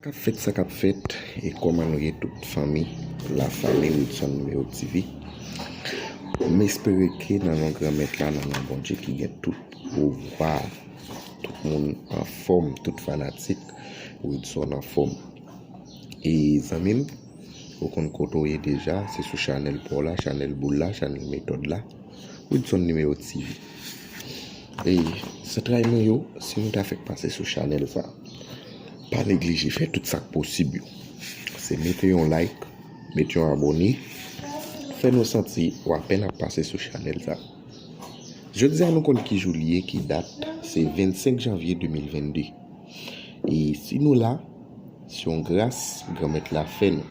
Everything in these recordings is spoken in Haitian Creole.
Kap fèt sa kap fèt e kòman nou ye tout fanmi la fanmi Wilson Numero TV m espere ke nan non gran mèt la nan non Bondye ki gen tout pouvwa tout moun anfòm tout fanatik Wilson anfòm e zanmi m ou konn kote w ye deja se sou chanèl pa w la chanèl boul la chanèl metòd la Wilson Numero TV e zantray mwen yo si nou ta fèk pase sou chanèl sa. Pa neglije fè tout sak posib yo se mete yon like met yon abone fè nou santi ou apèn ap pase sou chanèl sa jodi a nou konn ki jou li ye ki dat se 25 janvye 2022 e si nou la se yon gras granmèt la fè nou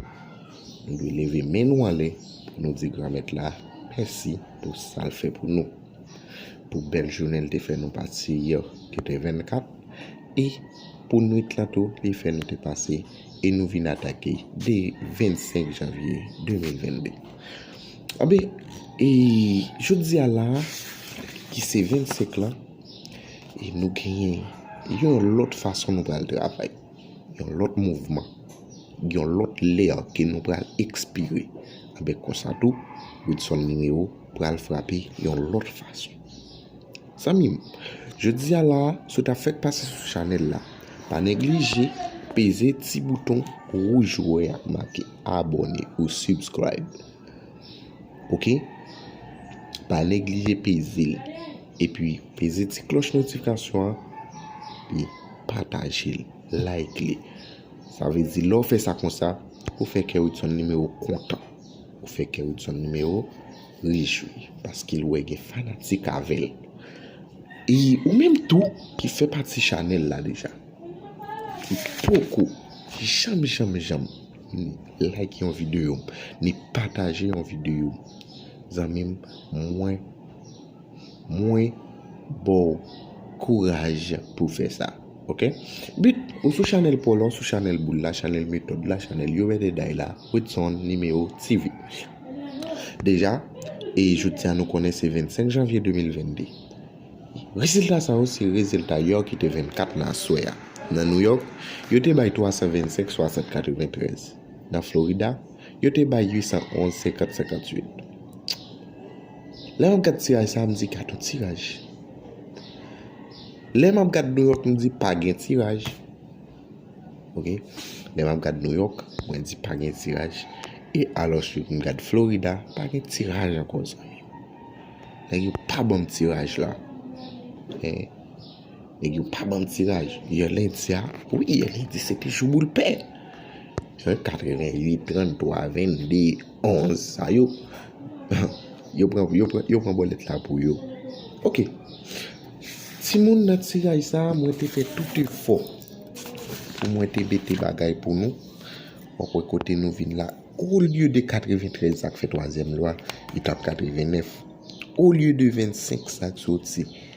nou dwe leve men nou anlè pou nou di granmèt la mèsi pou sal fè pou nou. pou bèl jounen li te fè nou pase yè ki te 24 e pou nwit lan tou li fè nou te pase e nou vin atake de 25 janvye 2022 anben e jodi a la ki se 25 lan e nou genyen yon lòt fason nou pral travay. Yon lòt mouvman, yon lòt lè ke nou pral ekspire. Anben konsa tou, Widson Mineiro pral frape yon lòt fason. Zanmi m, jodi a la a, si w ta fèk pase sou chanèl la, pa neglije peze ti bouton wouj ou wè a ki make abòne ou subscribe. Ok? Pa neglije peze l. Epi peze ti kloch notifikasyon an epi pataje l like li sa vle di lè w fè sa konsa ou fè kè widson numéro kontan ou fè kè widson numéro rejwi paske l wè gen fanatik avè l e ou menm tou ki fè pati chanèl la deja ki poko janm janm janm like yon videyo m ni pataje yon videyo m zanmi m mwen Mwen baw kouraj pou fè sa ok. But ou sou chanèl paw la ou sou chanèl boul la chanèl metòd la chanèl yo rède day la Widson Numero TV deja e jodia nou konnen se 25 janvye 2022 rezilta sa yo se rezilta yò ki te 24 nan aswè a nan New York yo te bay 325 60 93. nan Florida, yo te bay 811 50 58. Lè map gad tiraj sa m di gad yon tiraj. Lè map gad New York m di pa gen tiraj. Ok lè map gad New York mwen di pa gen tiraj e alos m gad Florida pa gen tiraj anko zanmi. Nèg yo pa banm tiraj la. Nèg yo pa banm tiraj. Yè lendi a, wi yè lendi se te jou boul pè. Yon 88, 33, 22, 11 sa yo. Yo pran, yo pran, yo pran bòlèt la pou yo. Ok. Ti moun nan tiraj sa a, mwen te fè tout efò. Pou mwen te mete bagay pou nou. Ou wè kote nou vin la. Ou lye de 93 sa k fè twazyèm lwa, li tap 89. Ou lye de 25 sa k soti.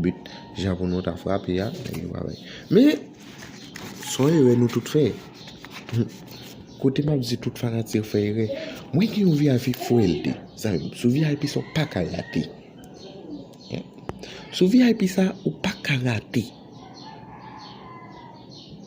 But jan pou nou ta frape a. Men son erè nou tout fè. Kote map di tout fanatik fè erè. Mwen gen yon VIP fwèl de. Zanmim sou VIP sa ou pa ka rate. Sou VIP sa ou pa ka rate.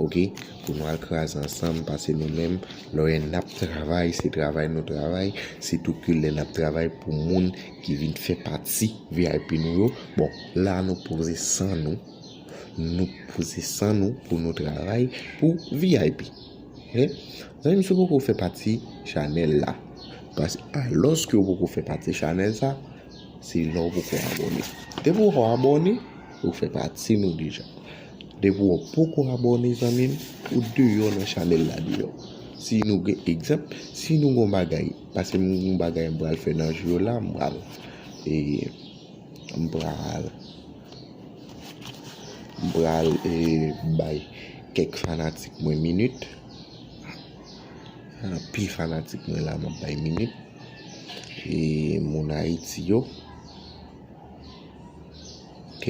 Ok pou nou al kraze ansanm pase nou menm lè nap travay se travay nou travay se tou ke lè nap travay pou moun ki vin fè pati vip nou yo bon la nou poze san nou nou poze san nou pou nou travay pou vip men zanmim si ou poko fè pati chanèl la pase aloske ou poko fè pati chanèl sa se lè ou poko abòne depi ou abòne. Ou fè pati nou deja. Depi ou poko abone zanmim ou deyò nan chanèl la deyò. Si nou gen egzanp, si nou gon bagay, pase m gon bagay m pral fè nan jou yo la m pral e m pral m pral e bay kèk fanatik mwen minit. Anpil fanatik mwen la m ap bay minit e moun Ayiti yo. Ok.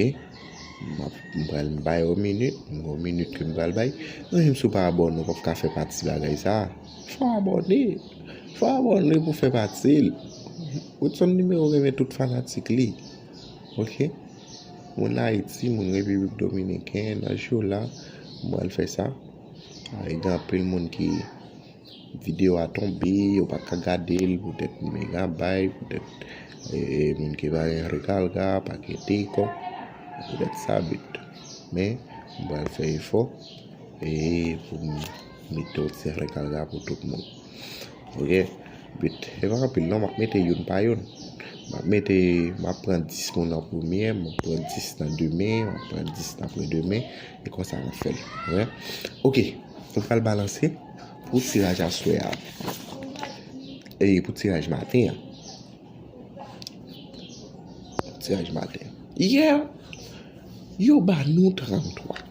Mwen pral bay yon minit. Mwen yon minit ke mwen pral bay. Mwen yon sou pa abone ou pa fka fè pati bagay sa. Fwa abone. Fwa abone pou fè pati. Ou tson nime ou gen men tout fanatik li. Ok. Mwen la iti. Mwen yon epi yon domine. Kè yon nan show la. Mwen pral fè sa. Yon yon anpil moun ki. Video a tonbe yo pa ka gadel pou tèt megabay pou tèt moun ki pa gen rekalga pa gen teyko pou tèt sa but men m pral fè efò pou m mete yon ti rekalga pou tout moun ok but se pa anpil non m ap mete youn pa youn m ap mete m ap pran 10 moun an premye m ap pran 10 nan demen m ap pran 10 nan apre demen e konsa m ap fè l ok m pral balanse. Pou tiraj aswè a. E pou tiraj maten an. Tiraj maten. Yè. Yo ba nou 33.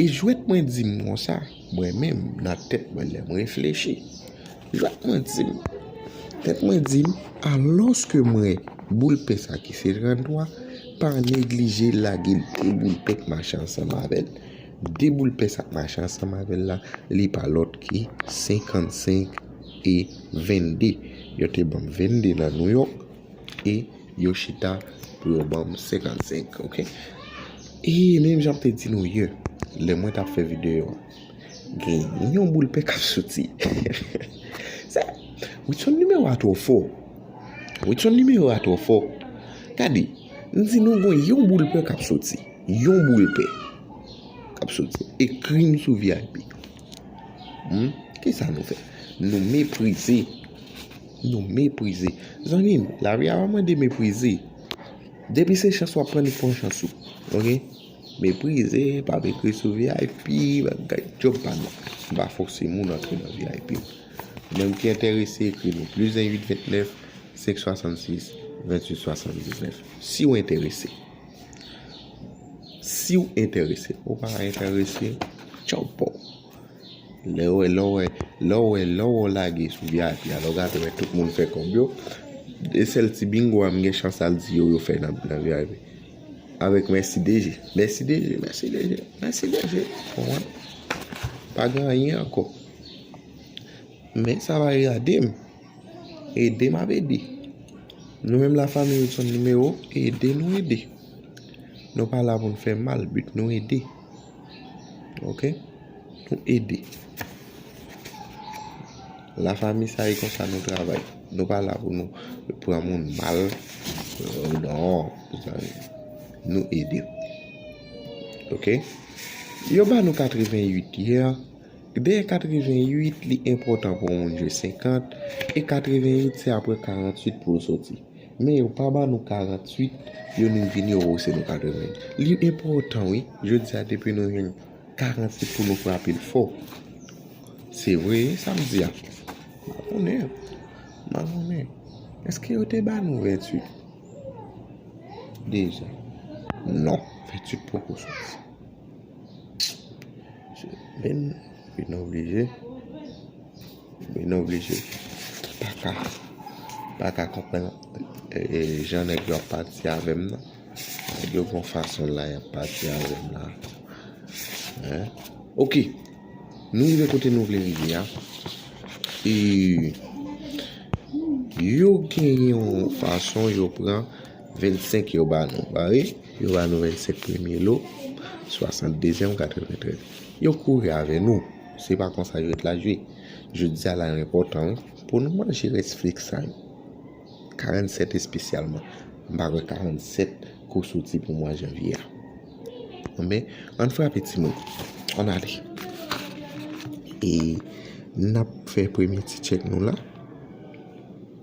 E jwèt mwen di m kon sa. Mwen men m nan tèt mwen lè m reflechi. Jwèt mwen di m. Jwèt mwen di m. A loske mwen boul pe sa ki se 33. Pa neglije lage l pou boul pek machan san mavel. De boul pès ap mache ansanm avè l la, li pa lòt ke 55 e 22. Yo te ban m 22 nan Nouyòk e yo chita pou yo ban m 55, ok? E menm jan m te di nou yè, lè mwen t ap fè videyo a, gen yon boul pè k ap soti. Sa, Widson nimewo a twò fò. Widson nimewo a twò fò. Gade, m di nou gen yon boul pè k ap soti. Yon boul pè kap soti ekri m sou vip humm kisa nou fè nou meprize nou meprize zanmi m lavi a pa mande meprize depi se chans wap pran li pran chans ou ok meprize pa ekri sou vip bagay job pa nou m pa fose moun antre nan vip moun ki enterese ekri m plus 1 8 29 5 66 28 79 si w enterese. Siw entèrese ou pa entèrese tchaw paw. Lè ou wè lè ou wè lè ou wè lè ou lage sou vip a lè ou gade wè tout moun fè kòb yo e sèl ti bingo a m gen chans al di yo yo fè nan vip. Avèk mèsi deje mèsi deje mèsi deje mèsi deje ou konprann. Pa gen anyen ankò men sa va e gade m. Ede m ap ede. Nou menm la fanmi Woodson Numero ede nou ede. Nou pa la pou nou fè mal but nou ede. Ok nou ede. La fanmi sa e konsa nou travay. Nou pa la pou nou pran moun mal. Non. Nou ede. Ok. Yo ba nou 88 yè. Dèyè 88 li enpòtan pou yon moun jwe 50 e 88 se aprè 48 pou l soti. Men yo pa ba nou 48 yo nou vini yo wouse nou 88. Li enpòtan wi jodi a depi nou jwenn 48 pou nou frape l fò. Se vre sa m di a? Mabone. Mabone. Eske yo te ba nou 28? Deja. Non. 28 poko soti. Bin oblije Bin oblije Paka Paka konprann Jan nèg yo ap pati avèm nan Nèg yo gon fason la yap pati avèm la Ok Nou rive kote nou vle rive a E Yo genyen yon fason yo pran 25 yo ba nou ba wi. Yo ba nou 25 premye lo, 60 dezyèm, 93. Yo kouri avè nou. Se pa konsa jwèt la jwe. Jodi a la yo enpòtan wi. Pou nou manje rès flik sa yo. 47 espesyalman. M pa kwè 47 ko soti pou mwa janvye a. Anben, ann frape timoun. Ann ale. E, n ap fè premye ti tchèk nou la.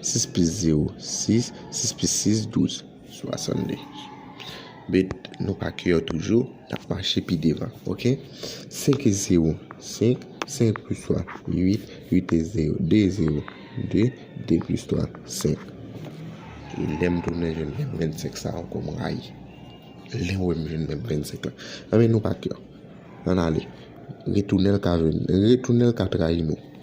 Sis plis zewo, sis, sis plis sis, douz, swasande. Met nou pa ke yo toujou, n ap mache pi devan, ok? Senk e zewo, senk, senk plis twa, uit, uit e zewo, de zewo, de, de plis twa, senk. E lè m tounen jwenn menm vennsenk sa ankò m rayi. Lè m wè m jwenn menm vennsenk la. Anben nou pa ke yo. Ann ale. Retounen l ka jwenn, retounen l ka trayi nou.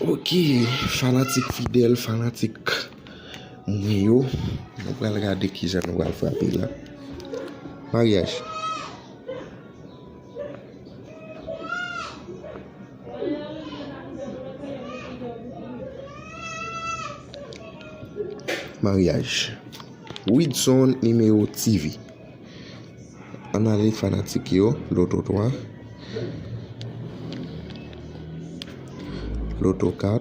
Ok fanatik fidèl fanatik mwen yo nou pral gade kijan nou pral frape la maryaj maryaj widson numero TV. Ann ale fanatik yo loto 3 loto 4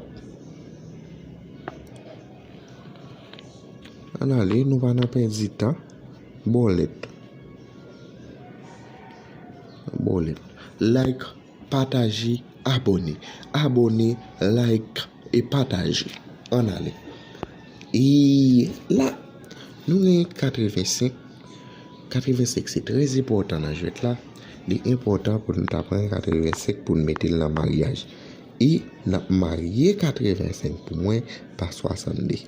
ann ale nou pa nan pèdi tan bòlèt bòlèt like. Pataje abone abone like e pataje an ale eee la nou gen 85 85 se trè zepòtan nan jwèt la li enpòtan pou nou ta pran 85 pou nou metel nan maryaj e nap marye 85 pou mwen pa 62.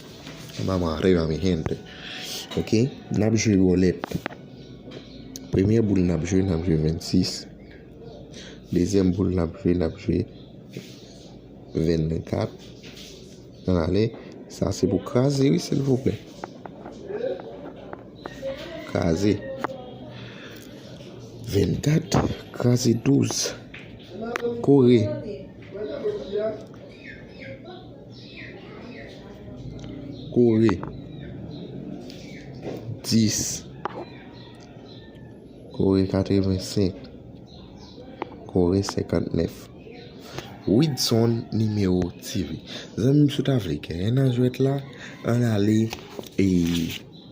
Vamos arriba mi gente Ok nap jwe bolet Premye boul nap jwe nap jwe 26 Dezyèm boul nap jwe nap jwe 24 An ale Sa se pou kraze wi silvouplè Kraze 24 kraze 12 Kore kore 10 kore 85 kore 59 widson nimewo tv zanmim si w ta vle genyen nan jwèt la an ale e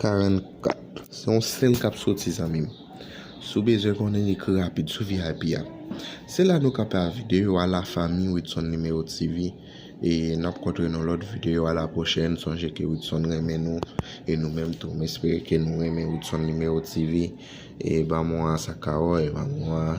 44 Se yon sèl kap soti zanmim Si w bezwen konnen ekri rapid sou vip a Se la nou kanpe a video a la fanmi Widson Numero TV e nap kontre nan lòt video a la pwochèn sonje ke Widson renmen nou e nou menm tou m espere ke nou renmen Widson Numero TV e banm yon a sa kawòy banm yon a.